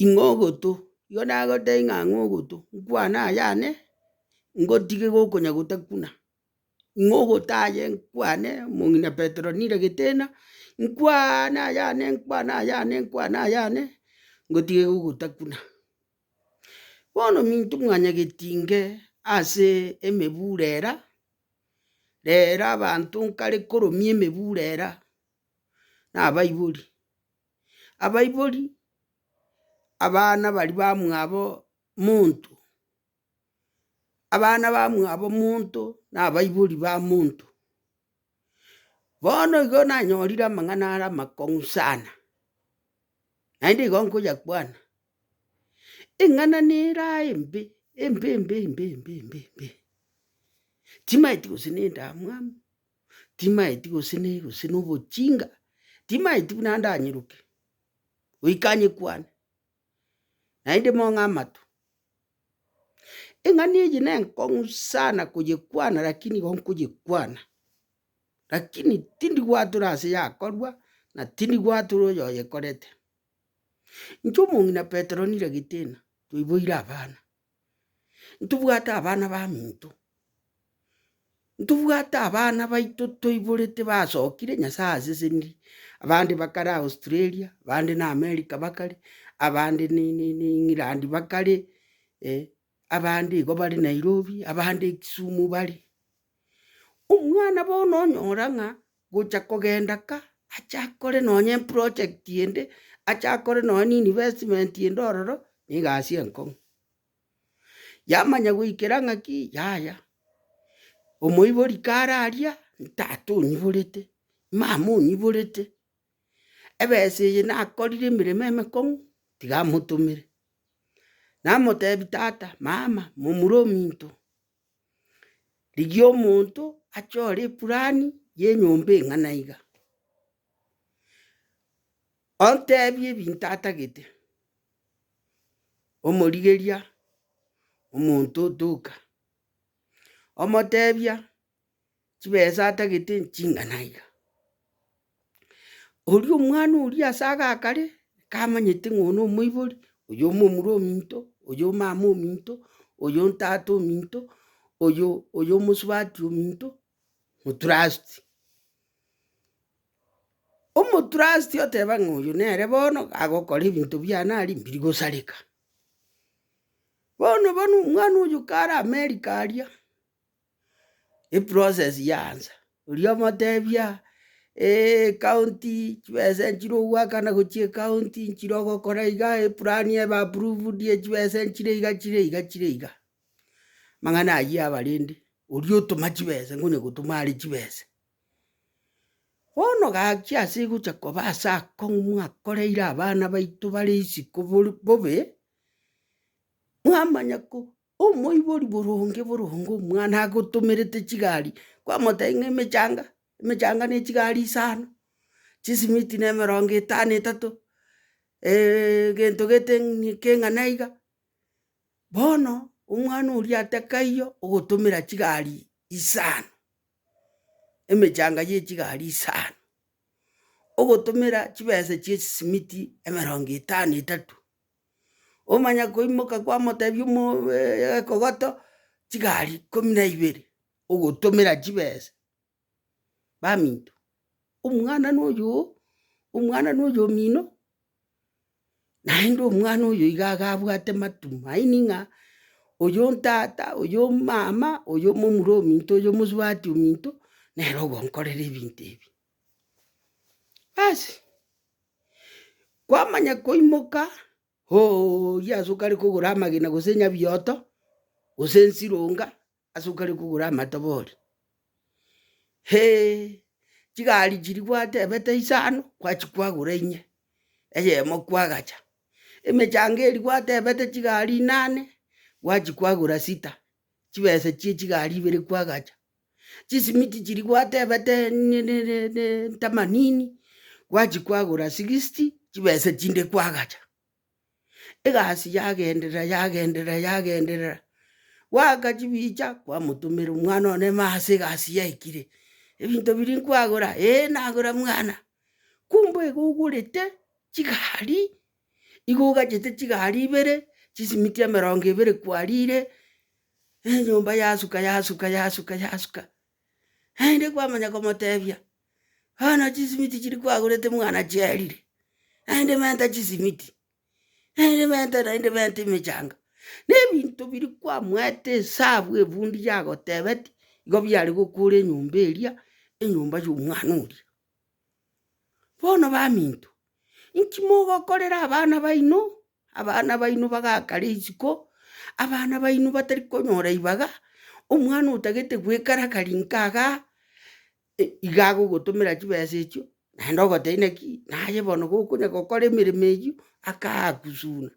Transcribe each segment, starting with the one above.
Ing'o ogoto? Igo nagotebia ng'a ang'o ogoto, nkwane ayane, ngotige gokonya gotakuna, ing'o ogoto aye nkwane omong'ina petero nire getena, nkwane ayane, nkwane ayane, nkwane ayane, ngotige gogotakuna. Bono minto mwanya getinge ase emebura era, rero abanto nkare koromia emebura era, nabaibori. abaibori, abana baria bamwabo monto, abana bamwabo monto na abaibori ba monto. Bono igo nanyorire amang'ana are amakong'u sana, naende igo nkoyakwana, eng'ana nera embe, embe embe embe embe embe embe, chimaeti gose nendamwamu. timaeti gose ne gose nobochinga, timaeti buna ande anyiroke, goika anyekwane, naende mong'e amato. Eng'ani eye na enkong'u sana koyekwana lakini igo nkoyekwana, lakini tindi gwatora ase yakorwa, na tindi gwatora oyo oyekorete. Inche omong'ina Petero nire getena, toiboire abana, Ntobwate abana baminto, ntobwate abana baito toiborete basokire nyasaye aseseniri, abande bakare australia, abande na america bakare, abande ni- ni- ni england bakare, abande igo bare nairobi, abande kisumu bare. Omwana bono onyora ng'a Gocha kogenda ka, ache akore nonye eproject ende, ache akore nonye ne investment ende ororo, na egasi enkong'u. Yamanya goikera ng'aki, yaya, omoibori kare aria, ntata onyiborete, mama onyiborete, ebesa eye nakorire emeremo emekong'u, tiga motomere. Namotebi tata, mama, momura ominto. Rigia omonto achore epurani y'enyomba eng'ana iga, ontebie ebinto atagete, omorigeria omonto otoka, omotebia. chibesa atagete ching'ana iga. Oria omwana oria ase agakare, kamanyete ng'a oyo na omoibori, oyo omomura ominto, oyo omama ominto, oyo ontata ominto, oyo oyo omosubati ominto, otrust. Omotrust oteba ng'a oyo nere bono agokora ebinto biane aria mbiri gosareka. Bono bono omwana oyo kare amerika aria. eprocess yaansa, oria omotebia ecounty chibesa echire ogoakana gochia ecounty nchire ogokora iga, eplani ebe approved ye chibesa nchire iga chire iga chire iga. Amang'ana ayio abarende, oria otoma chibesa ngonya gotoma are chibesa. Bono gachia ase gocha koba ase akong'u mwakoreire abana baito bare isiko bor- bobe, mwamanya ko. Omoibori boronge boronge omwana agotomerete chigari, kwamotebia ng'a emechanga, emechanga ne chigari isano, chisimiti na emerongo etano etato, gento gete ng'ini keng'ana iga, bono omwana oria ate kaiyo ogotomera chigari isano, emechanga ye chigari isano, ogotomera chibesa chie chisimiti emerongo etano etato. Omanya koimoka kwamotebia omoeekogoto chigari ikomi na ibere, ogotomera chibesa, baminto omwana na oyoo, omwana na oyo omino, naende omwana oyo iga iga abwate matumaini ng'a oyo ntata, oyo omama, oyo momura ominto, oyo omosubati ominto, nere ogonkorera ebinto ebi. Basi, kwamanya koimoka ooyia ase okare kogora amagena gose nyabioto, gose ensironga ase okare kogora amatobori, hee chigari chiria gwatebete isano gwachi kwagora inye, eyemo kwagacha, emechanga eria gwatebete chigari inane gwachi kwagora sita, chibesa chie chigari ibere kwagacha, chisimiti chiria gwatebete ntamanini gwachikwagora sixty chibesa chinde kwagacha. Egasi yagenderera yagenderera yagenderera gwaaka chibicha kwamotomera omwana one maase egasi yaikire, ebinto biria nkwagora, eeh nagora mwana, kumbe igo ogorete chigari Igo ogachete chigari ibere, chisimiti emerongo ebere kwarire, enyomba yasuka yasuka yasuka yasuka. Naende kwamanya komotebia, bono chisimiti chiria kwagorete mwana chiarire, naende menta chisimiti, naende menta naende menta emechanga, na ebinto biria kwamoete esabu ebundi yagotebeti, igo biare gokora enyomba eria, enyomba ya omwana oria. Bono baminto, inki mogokorera abana baino? Abana baino bagaka rituko, abana baino batari konyora ribaga, omwana otagete goekara kare nka igaa, iga agogotomera chibesa echio, naende ogoteba inaki, naye bono gokonya gokora emeremo eyio, akakusuna.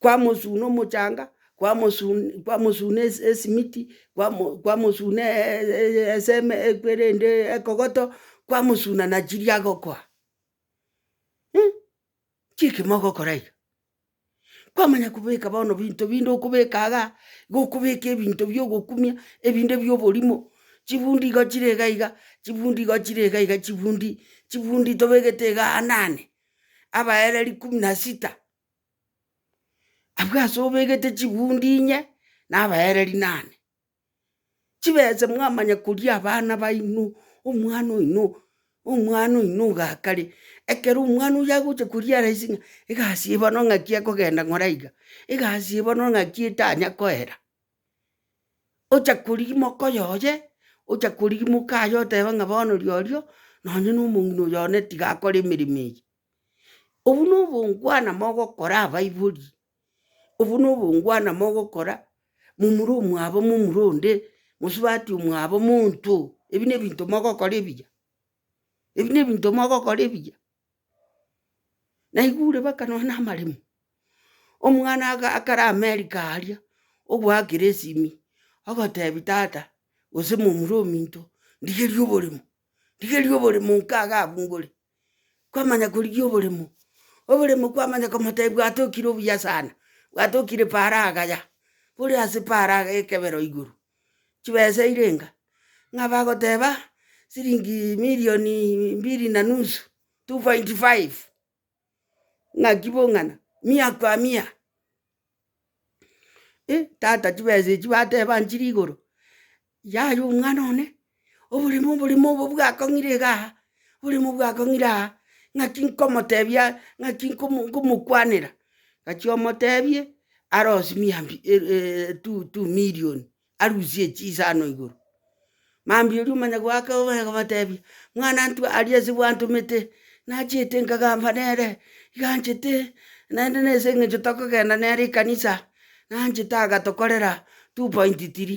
kwamosuna omochanga, kwamosun- kwamosuna esi- esimiti, kwamo- kwamosuna eseme ekwerende ekogoto, kwamosuna na chiria agokoa chiki mogokora iga. Kwamanya kobeka bono binto binde okobeka igaa, igo okobeka ebinto bia ogokumia, ebinde bia oborimo, chifundi igo chire iga iga, chifundi igo chire iga iga chifundi, chifundi tobegete igaa nane. abaereri ikumu na sita, abwo ase obegete chigundi inye na abaereri nane. Chibese mwamanya koria abana baino, omwana oino, omwana oino ogakare, ekero omwana oyio agocha koria araise ng'a egasi eye bono ng'aki ekogenda ng'ora iga, egasi eye bono ng'aki etanya koera. ochakorimoka oyoye, ochakorimoka mukaye oteba ng'a bono riorio, nonye na omong'ina oyo one tiga akore emeremo eye. Obwo na obongwana mogokora abaibori, obwo na obongwana mogokora momura omwabo momura onde, mosubati omwabo monto, ebi na ebinto mogokora ebiya, ebi na ebinto mogokora ebiya. Naigure mpaka nonya na amaremo, omwana akare amerika aria, ogoakera esimi, ogotebi tata gose momura ominto, ndigerie oboremo, ndigerie oboremo nka iga abwo ngore, kwamanya korigia oboremo, oboremo kwamanya komotebi gwatokire obuya sana, gwatokire paraga ya, bore ase paraga ekebero igoro, chibeseire enga, ng'a bagoteba siringi milioni mbili na nusu, two point five, ng'aki bong'ana, mia kwa mia. Tata chibesa echi bateba nchire igoro, yaya omwana one. oborimo, oborimo obo bwakong'ire iga aha, oborimo bwakong'ire aa, ng'aki nkomotebia ng'aki nkomo nkomokwanera, gachia omotebie arosie mia mbi e- e- etu- tu million arusie chisa ano igoro. Mambia oria omanya goaka omanya gobatebia, mwana ntwe aria ase gwantomete, nachete nkagamba nere, iga anchete, naende nase eng'encho tokogenda nere ekanisa, nanchete agatokorera two point tiri.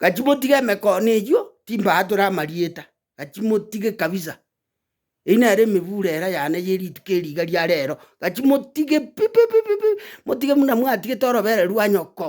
Gaki motige emekono eywo, timbaatora amarieta, gaki motige kabisa. Eyio nere emebura era yane ye rituko eri iga ria rero, gaki motige pi pi pi pi pi, motige buna mwatigete orobereru rwa nyoko.